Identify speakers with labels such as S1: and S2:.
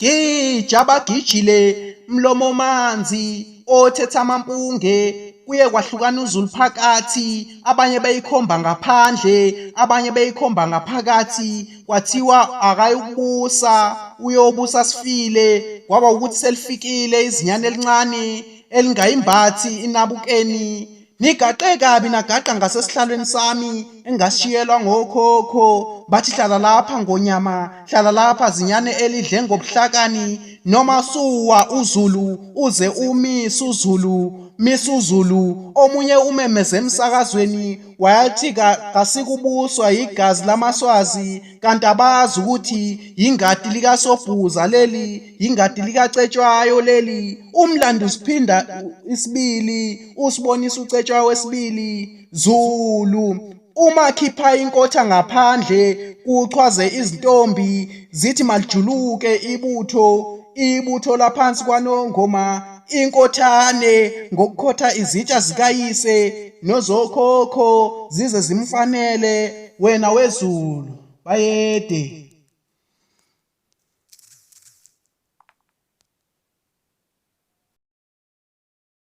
S1: Gija abagijile mlomo manzi othetha amampunge kuye kwahlukana uzulu phakathi abanye beyikhomba ngaphandle abanye beyikhomba ngaphakathi kwathiwa akayukubusa uyobusa sifile kwaba ukuthi selifikile izinyane elincane elingayimbathi inabukeni Ngigaqe kabi nagaqa ngasesihlalweni sami engashiyelwa ngokhokho bathi hlala lapha ngonyama hlala lapha zinyane elidle ngobuhlakani noma suwa uzulu uze umise uzulu misa uzulu omunye umemeze emsakazweni wayathi kasikubuswa yigazi lamaswazi kanti abazi ukuthi yingadi likasobhuza leli yingadi likacetshwayo leli umlando usiphinda isibili Usibonisa ucetshwa wesibili Zulu uma khipha inkotha ngaphandle kuchwaze izintombi zithi malijuluke ibutho ibutho laphansi kwanongoma inkothane ngokukhotha izitsha zikayise nozokhokho zize zimfanele wena wezulu bayede